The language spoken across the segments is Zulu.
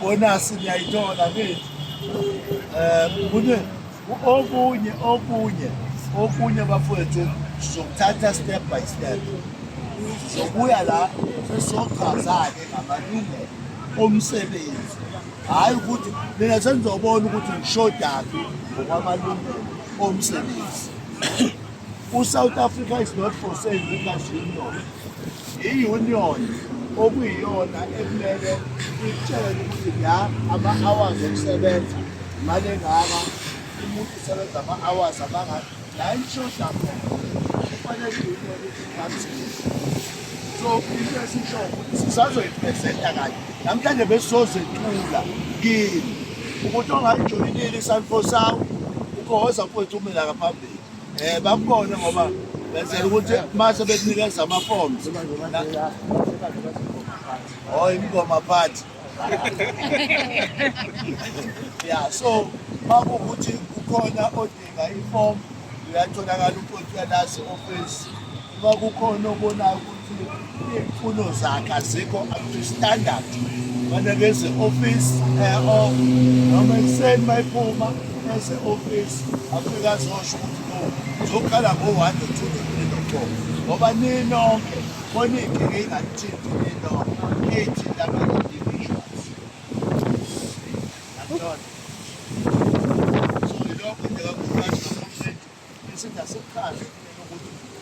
bonasi niyayithola kithi um kune okunye okunye okunye bafowethu sizokuthatha step by step sokuya la sesochaza-ke ngamalungelo omsebenzi hhayi ukuthi mina sengizobona ukuthi ngishodaphi ngokwamalungelo omsebenzi usouth africa is not for sale because union i-union okuyiyona ekumele itshele ukuthi la ama-hours okusebenza imali engaka umuntu usebenza ama-hours amangaka la ishoda khona kufanele so into esisho ukuthi sisazoyipresenta kanye namhlanje besizozethula kini ukuthi ongayijoyinile isanfo sawo ugohoza mfowethu umela ngaphambili um bakubone ngoba benzela ukuthi mase bekunikeza ama-forms o oh, imngoma phathi ya so makuwukuthi ukhona ifomu uyatholakala uqothi yalase ofisi uma kukhona obonayo ukuthi iy'mfuno zakhe azikho up to standard faneke eze ofisi e-off noma ekuseni uma iphuma eze ofisi afike azosho ukuthi no zokhala ngo-one no-two no-three no-four ngoba ninonke khona iy'nkinga ey'nganithinti ninonke ey'thinta abantu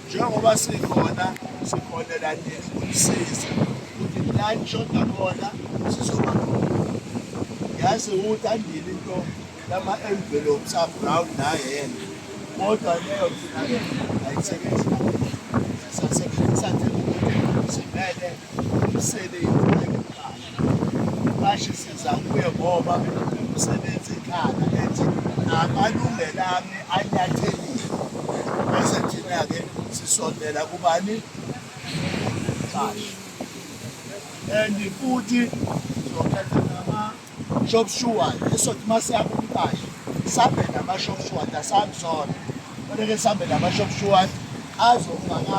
njengoba sikhona sikhonela nini ukusisa ukuthi lani shoda khona sizoba yazi ukuthi andile into lama-envelopes abrown nayena kodwa leyo thina ayisebenzi sisasebenzisa nje ukuthi simele umsebenzi Mqashi siza kuye ngoba umsebenzi ekhaya ethi amalungelo ami anyathelile bese thina-ke sisondela kubani mqashi and futhi sizokhetha nama-shop shuward esothi uma siya kumqashi sambe nama-shop shuward asabi sona kodwa-ke sambe nama-shop shuward azofakanga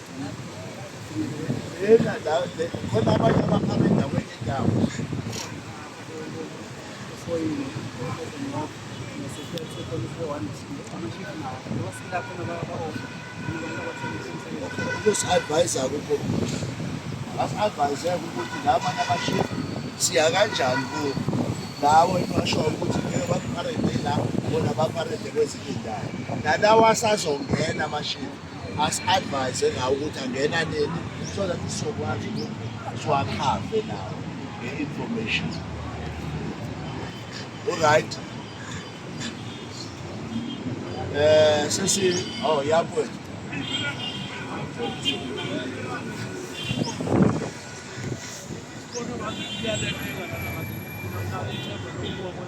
khona abanye abaphana endaweni yendawo kusi-advise-a kukho basi-advise-eke ukuthi la abanye abashifu siya kanjani kuwo lawo engashoyo ukuthi ngeke bakuparede la bona baparede kwezinye indawo nalawa asazongena amashifu asi-advise ngawo ukuthi angena nini so that sizokwazi ukuthi siwakhave nawo nge-information olright um eh, sesi o oh, yabona Thank you.